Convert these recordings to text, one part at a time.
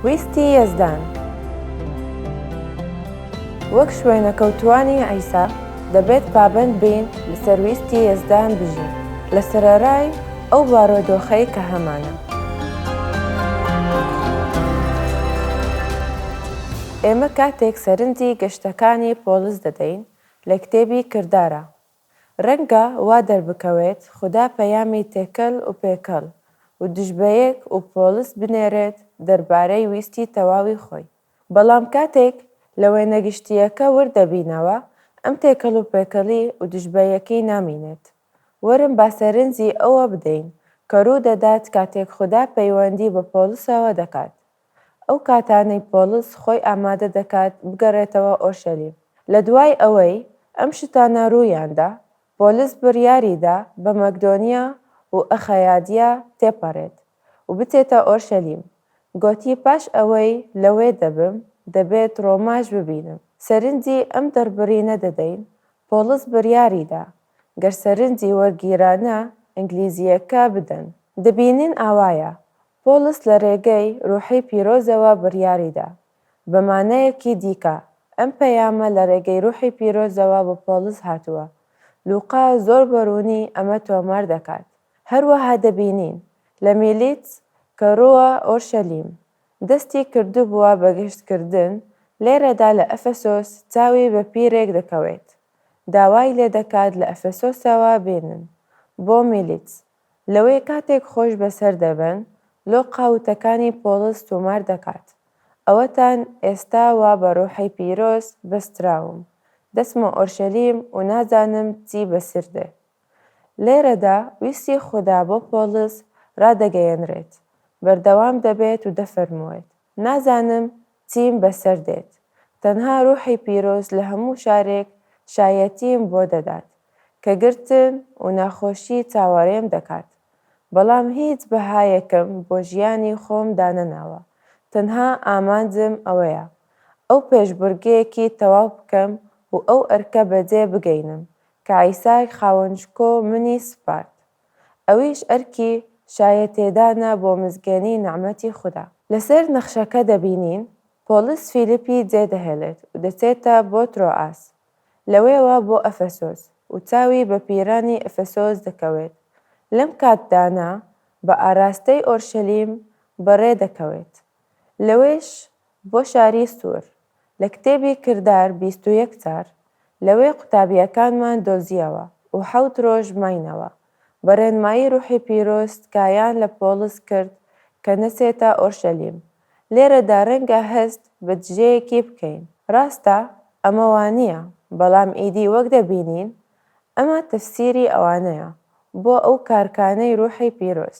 ویستی یەزدان وەک شوێنەکەوتووانی عیسا، دەبێت پابەند بین لەسەر ویستی یەزدان بژین لە سەرەرای ئەو بارۆدۆخەی کە هەمانە. ئێمە کاتێک سەرنجی گەشتەکانی پۆڵس دەدەین لە کتێبی کردارە رەنگە وا دەربکەوێت خودا پەیامی تێکەل وپێکەڵ ودژبەیەک وپۆلس بنێرێت دەربارەی ویستی تەواوی خۆی، بەڵام کاتێک لە وێنە گشتییەکە ورد دەبینەوە، ئەم تێکەڵ وپێکەڵی ودژبەیەکەی نامینێت. وەرن با سەرنجی ئەوە بدەین کە روودەدات کاتێک خودا پەیوەندی بە پۆلسەوە دەکات. ئەو کاتانەی پۆڵس خۆی ئامادە دەکات بگەڕێتەوە ئۆرشەلیم. لە دوای ئەوەی ئەم شتانە روویاندا، پۆلس بریاری دا بە مەکدۆنیا و ئەخەیادیا تێپەرێت و بچێتە ئۆرشەلیم. گۆتی پاش ئەوەی لەوێ دەبم، دەبێت رۆماش ببینم. سەرنجی ئەم دەڕبرینە دەدەین، پۆڵس بریاری دا گەر سەرنجی وەرگیرانە ئینگلیزییەکە بدەن. دەبینین ئاوایە، پۆڵس لە رێگەی روحی پیرۆزەوە بڕیاریدا. بە مانایەکی دیکە، ئەم پەیامە لە رێگەی روحی پیرۆزەوە بۆ پۆڵس هاتووە. لوقا زۆر بە روونی ئەمە تۆمار دەکات. هەروەها دەبینین لە میلیت کە رووە ئۆرشەلیم، دەستی کردبووە بە گەشتکردن، لێرەدا لە ئەفەسۆس چاوی بە پیرێک دەکەوێت، داوای لێدەکات لە ئەفەسۆسەوە بێنن بۆ میلیت. لەوەی کاتێک خۆش بەسەر دەبن لۆ قاوتەکانی پۆڵس تۆمار دەکات ئەوەتان ئێستا وا بە ڕوحی پیرۆز بەستراوم دەچمە ئۆرشەلیم و نازانم چی بەسر دێ لێرەدا ویستی خودا بۆ پۆڵس ڕادەگەیەنرێت بەردەوام دەبێت و دەفەرموێت نازانم چیم بەسەر دێت، تەنها روحی پیرۆز لە هەموو شارێک شایەتیم بۆ دەدات، کە گرتن و ناخۆشی چاوەڕێم دەکات، بەڵام هیچ بەهایەکم بۆ ژیانی خۆم دانەناوە، تەنها ئامانجم ئەوەیە، ئەو پێشبڕکێیەکی تەواو بکەم و ئەو ئەرکە بەجێ بگەینم، کە عیساک خاوەن شکۆ منی سپارد. ئەویش ئەرکی شایەتێدانە بۆ مزگێنی نەعمەتی خودا. لەسەر نەخشەکە دەبینین پۆڵس فیلیپی جێدەهێڵێت و دەچێتە بۆ ترۆئاس، لەوێوە بۆ ئەفەسۆس و چاوی بە پیرانی ئەفەسۆس دەکەوێت، لەم کاتدانە بە ئاراستەی ئۆرشەلیم بەڕێدەکەوێت، لەوێش بۆ شاری سوور، لە کتێبی کردار بیست و یەک جار لەوێ قوتابییەکانمان دۆزییەوە و حەوت رۆژ ماینەوە، بە رێنمایی روحی پیرۆز تکایان لە پۆڵس کرد کە نەچێتە ئۆرشەلیم، لێرەدا رەنگە هەست بە دژەیەکی بکەین، راستە ئەمە وانییە، بەڵام ئیدی وەک دەبینین ئەمە تەفسیری ئەوانەیە بۆ ئەو کارکانەی روحی پیرۆز،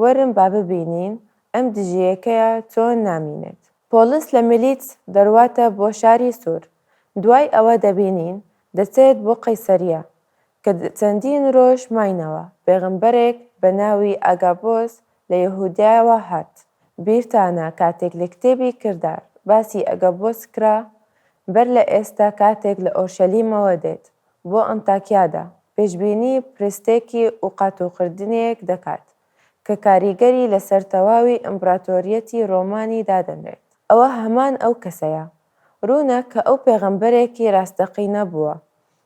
وەرن با ببینین ئەم دژیەکەیە چۆن نامینێت. پۆلیس لە ملیتس دەرواتە بۆ شاری سور، دوای ئەوە دەبینین دەچێت بۆ قەیسەریە، کە چەندین رۆژ ماینەوە، پێغەمبەرێک بە ناوی ئاگابۆس لە یەهودیاوە هات، بیرتانە کاتێک لە کتێبی کردار باسی ئەگەبۆس کرا، بەر لە ئێستا کاتێک لە ئۆرشەلیمەوە دێت بۆ ئەنتاکیادا، پێشبینی پرستێکی و قاتوقردنێک دەکات کە کاریگەری لەسەر تەواوی ئیمپراتۆریەتی ڕۆمانی دادەنرێت، ئەوە هەمان ئەو کەسەیە. ڕوونە کە ئەو پێغەمبەرێکی ڕاستەقینە بووە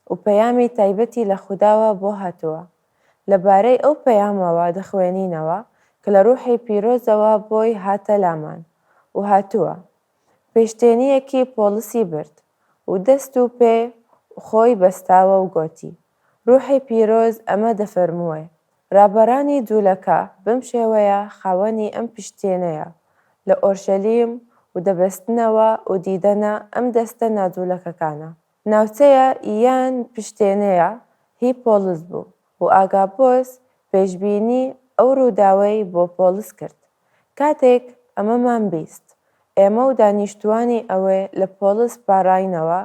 و پەیامی تایبەتی لە خوداوە بۆ هاتووە. لە بارەی ئەو پەیامەوە دەخوێنینەوە کە لە ڕوحی پیرۆزەوە بۆی هاتە لامان و هاتووە، پێشتێنییەکی پۆڵسی برد و دەست و پێ خۆی بەستاوە و گۆتی. ڕوحی پیرۆز ئەمە دەفەرمووێ، ڕابەرانی جوولەکە بەم شێوەیە خاوەنی ئەم پشتێنەیە لە ئۆرشەلیم و دەبەستنەوە و دیدەنە ئەم دەستە ناجوولەکەکانە. ناوچەیە یان پشتێنەیە هی پۆڵس بوو و ئاگابۆس پێشبینی ئەو ڕووداوەی بۆ پۆڵس کرد. کاتێک ئەمەمان بیست، ئێمە و دانیشتووانی ئەوێ لە پۆڵس پاڕاینەوە،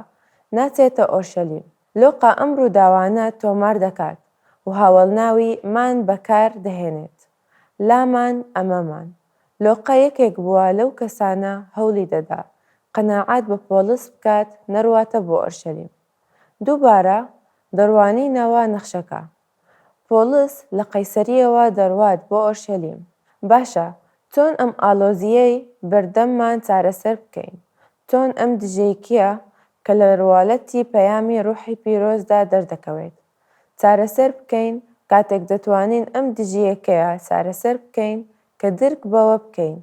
ناچێتە ئۆرشەلیم. لۆقا ئەم ڕووداوانە تۆمار دەکات و هاوەڵناوی مان بەکار دەهێنێت. لامان، ئەمەمان. لۆقا یەکێک بووە لەو کەسانە هەوڵی دەدا قەناعەت بە پۆڵس بکات نەڕواتە بۆ ئۆرشەلیم. دووبارە دەڕوانینەوە نەخشەکە. پۆڵس لە قەیسەرییەوە دەڕوات بۆ ئۆرشەلیم. باشە، چۆن ئەم ئاڵۆزییەی بەردەممان چارەسەر بکەین؟ چۆن ئەم دژەیکییە کە لە ڕواڵەتی پەیامی ڕوحی پیرۆزدا دەردەکەوێت، چارەسەر بکەین؟ کاتێک دەتوانین ئەم دژیەکەیە چارەسەر بکەین کە درک بەوە بکەین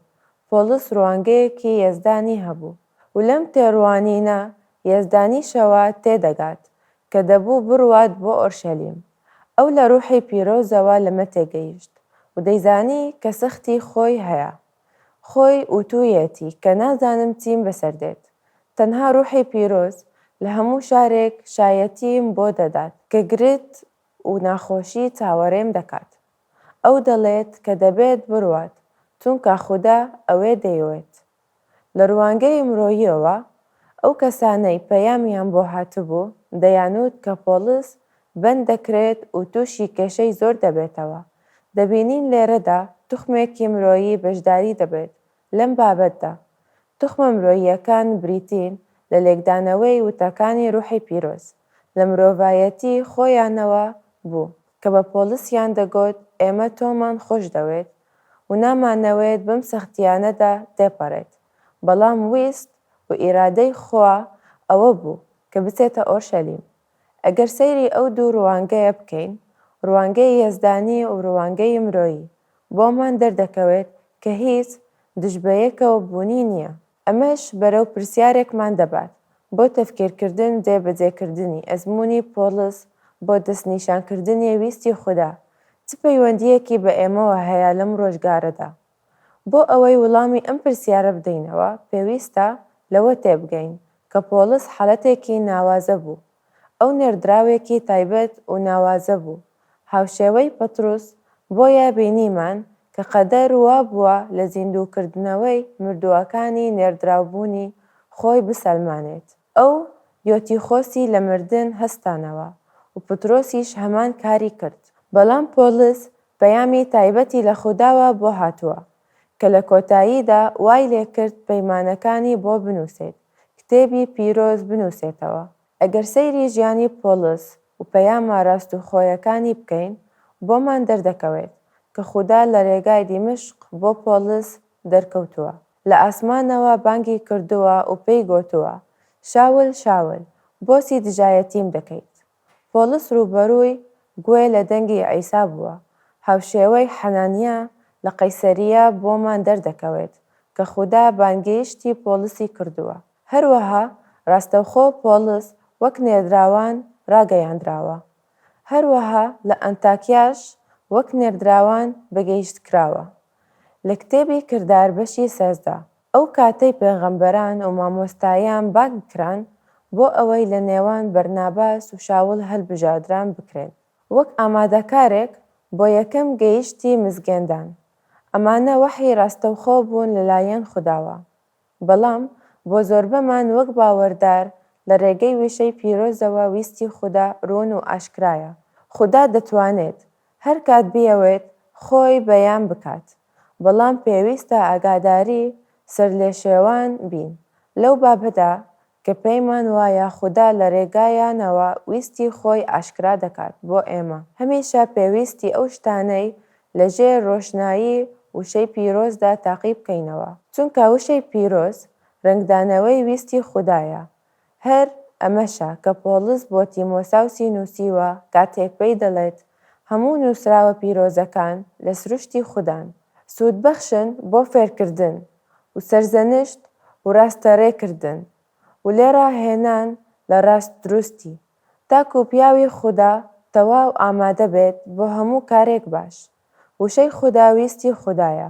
پۆڵس ڕوانگەیەکی یەزدانی هەبوو و لەم تێڕوانینە یەزدانیشەوە تێدەگات کە دەبوو بڕوات بۆ ئۆرشەلیم، ئەو لە ڕووحی پیرۆزەوە لەمە تێگەیشت و دەیزانی کە سەختی خۆی هەیە. خۆی وتوویەتی کە نازانم چیم بەسەر دێت، تەنها ڕووحی پیرۆز لە هەموو شارێک شایەتیم بۆ دەدات کە گرت و ناخۆشی چاوەڕێم دەکات. ئەو دەڵێت کە دەبێت بڕوات، چونکە خودا ئەوێ دەیۆێت لە ڕوانگەی مرۆییەوە ئەو کەسانەی پەیامیان بۆ هاتبوو دەیانوت کە پۆڵس بەند دەکرێت و تووشی کێشەی زۆر دەبێتەوە، دەبینین لێرەدا توخمێکی مرۆیی بەشداری دەبێت لەم بابەتدا. توخمە مرۆییەکان بریتین لە لێکدانەوەی وتەکانی ڕوحی پیرۆز لە مرۆڤایەتی خۆیانەوە بوو کە بە پۆڵسیان دەگۆت ئێمە تۆمان خۆشدەوێت، و نامانەوەێت بەم سەختییانەدا تێپەڕێت، بەڵام ویست و ئیرادەی خوا ئەوە بوو کە بچێتە ئۆرشەلیم. ئەگەر سەیری ئەو دوو ڕوانگەیە بکەین، ڕوانگەی یەزدانی و ڕوانگەی مرۆیی، بۆمان دەردەکەوێت کە هیچ دژبەیەکەوە بوونی نییە. ئەمەش بەرەو پرسیارێکمان دەبات، بۆ تەفکیرکردن جێ بەجێ کردنی ئەزموونی پۆڵس بۆ دەستنیشان کردنی ویستی خودا، چ پەیوەندییەکی بە ئێمەوە هەیە لەم ڕۆژگارەدا؟ بۆ ئەوەی وڵامی ئەم پرسیارە بدەینەوە، پێویستە لەوە تێبگەین، کە پۆڵس حاڵەتێکی ناوازە بوو، ئەو نێردراوێکی تایبەت و ناوازە بوو، هاوشێوەی پەتروس، بۆیە بینیمان کە قەدەر وا بووە لە زیندووکردنەوەی مردووەکانی نێردراوبوونی خۆی بسەلمانێت. ئەو، یۆتیخۆسی لە مردن هەستانەوە و پترۆسیش هەمان کاری کرد. بەڵام پۆڵس پەیامی تایبەتی لە خوداوە بۆ هاتووە، کە لە کۆتاییدا وای لێ کرد پەیمانەکانی بۆ بنووسێت کتێبی پیرۆز بنووسێتەوە. ئەگەر سەیری ژیانی پۆڵس و پەیامە راستوخۆیەکانی بکەین، بۆمان دەردەکەوێت کە خودا لە رێگای دیمەشق بۆ پۆڵس دەرکەوتووە، لە ئاسمانەوە بانگی کردووە و پێی گۆتووە، شاول، شاول، بۆچی دژایەتیم دەکەیت؟ پۆڵس ڕووبەڕووی گوێ لە دەنگی عیسا بووە، هاوشێوەی حەنانیا لە قەیسەریا بۆمان دەردەکەوێت کە خودا بانگێشتی پۆڵسی کردووە. هەروەها ڕاستەوخۆ پۆڵس وەک نێردراوان ڕاگەیاندراوە، هەروەها لە ئەنتاکیاش وەک نێردراوان بەگێشتکراوە. لە کتێبی کردار بەشی سێزدە ئەو کاتەی پێغەمبەران ومامۆستایان بانگ کران بۆ ئەوەی لە نێوان بەرناباس وشاول هەلبژاردران بکرێن وەک ئامادەکارێک بۆ یەکەم گەیشتی مزگێندان ئەمانە وەحی راستەوخۆ بوون لە لایەن خوداوە بەڵام بۆ زۆربەمان وەک باوەردار لە رێگەی وشەی پیرۆزەوە ویستی خودا روون و ئاشکرایە خودا دەتوانێت هەرکات بیەوێت خۆی بەیان بکات بەڵام پێویستە ئاگاداری سەرلێشێوان بین لەو بابەتە کە پێیمان وایە خودا لە رێگایانەوە ویستی خۆی ئاشکرا دەکات بۆ ئێمە. هەمیشە پێویستی ئەو شتانەی لە ژێر رۆشنایی وشەی پیرۆزدا تاقی بکەینەوە، چونکە وشەی پیرۆز رەنگدانەوەی ویستی خودایە هەر ئەمەشە کە پۆڵس بۆ تیمۆساوسی نووسیوە کاتێک پێی دەڵێت، هەموو نووسراوە پیرۆزەکان لە سروشتی خودان، سوودبەخشن بۆ فێرکردن و سەرزەنشت و ڕاستەڕێکردن و لێڕاهێنان لە ڕاست دروستی، تاکوو پیاوی خودا تەواو ئامادە بێت بۆ هەموو کارێک باش. وشەی خودا ویستی خودایە،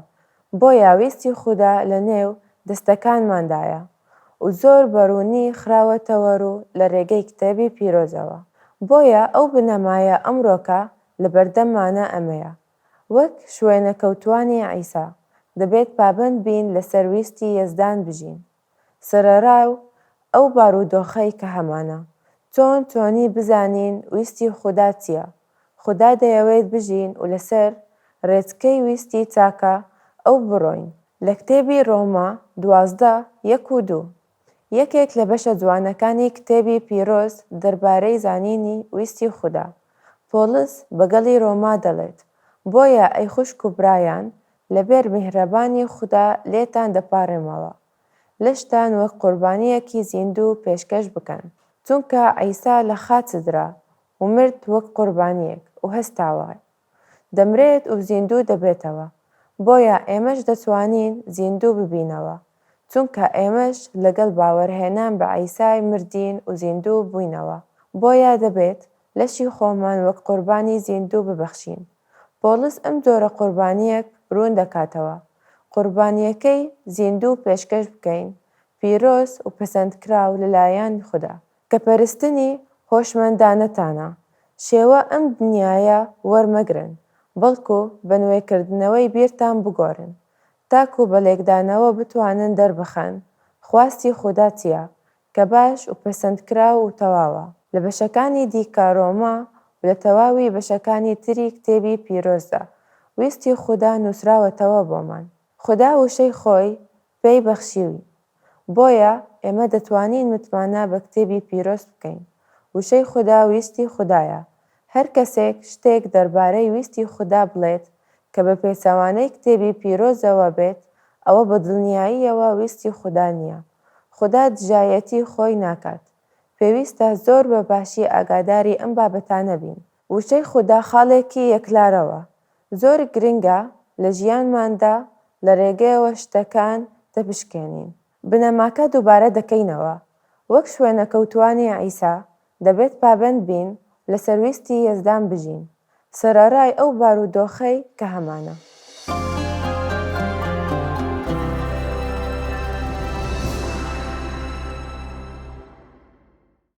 بۆیە ویستی خودا لە نێو دەستەکانماندایە و زۆر بە ڕوونی خراوەتەوە ڕوو لە ڕێگەی کتێبی پیرۆزەوە. بۆیە ئەو بنەمایە ئەمڕۆکە لە بەردەممانە ئەمەیە، وەک شوێنەکەوتووانی عیسا، دەبێت پابەند بین لەسەر ویستی یەزدان بژین. سەرەڕای ئەو بارودۆخەی کە هەمانە، چۆن چۆنی بزانین ویستی خودا چییە؟ خودا دەیەوێت بژین و لەسەر ڕێچکەی ویستی چاکە ئەو بڕۆین. لە کتێبی ڕۆما دوازدە، یەک و دوو، یەکێک لە بەشە جوانەکانی کتێبی پیرۆز دەربارەی زانینی ویستی خودا، پۆڵس بە گەڵی ڕۆما دەڵێت، بۆیە ئەی خوشک و برایان، لەبەر میهرەبانی خودا لێتان دەپاڕێمەوە لەشتان وەک قوربانییەکی زیندوو پێشکەش بکەن، چونکە عیسا لە خاچ سدرا و مرد وەک قوربانییەک و هەستاوە، دەمرێت و زیندوو دەبێتەوە، بۆیە ئێمەش دەتوانین زیندوو ببینەوە، چونکە ئێمەش لەگەڵ باوەرهێنان بە عیسای مردین و زیندوو بووینەوە، بۆیە دەبێت لەشی خۆمان وەک قوربانی زیندوو ببەخشین. پۆڵس ئەم جۆرە قوربانییەک روون دەکاتەوە، قوربانییەکەی زیندوو و پێشکەش بکەین، پیرۆز و پەسەندکراو لەلایەن خودا، کە پەرستنی هۆشمەندانەتانە، شێوە ئەم دنیایە وەرمەگرن، بەڵکو بە نوێکردنەوەی بیرتان بگۆڕن، تاکو بە لێکدانەوە بتوانن دەربخەن خواستی خودا چییە، کە باش و پەسەندکراو و تەواوە. لە بەشەکانی دیکە ڕۆما و لە تەواوی بەشەکانی تری کتێبی پیرۆزدا، ویستی خودا نووسراوەتەوە بۆمان. خودا وشەی خۆی پێی بەخشیوین. بۆیە ئێمە دەتوانین متمانە بە کتێبی پیرۆز بکەین. وشەی خودا ویستی خودایە، هەر کەسێک شتێک دەربارەی ویستی خودا بڵێت کە بە پێچەوانەی کتێبی پیرۆزەوە بێت، ئەوە بە دڵنیاییەوە ویستی خودا نییە. خودا دژایەتی خۆی ناکات. پێویستە زۆر بە باشی ئاگاداری ئەم بابەتانە بین. وشەی خودا خاڵێکی یەکلارەوە زۆر گرنگە لە ژیانماندا لە رێگەیەوە شتەکان دەپشکێنین. بنەماکە دووبارە دەکەینەوە، وەک شوێنەکەوتووانی عیسا، دەبێت پابەند بین لەسەر ویستی یەزدان بژین، سەرەڕای ئەو بارودۆخەی کە هەمانە.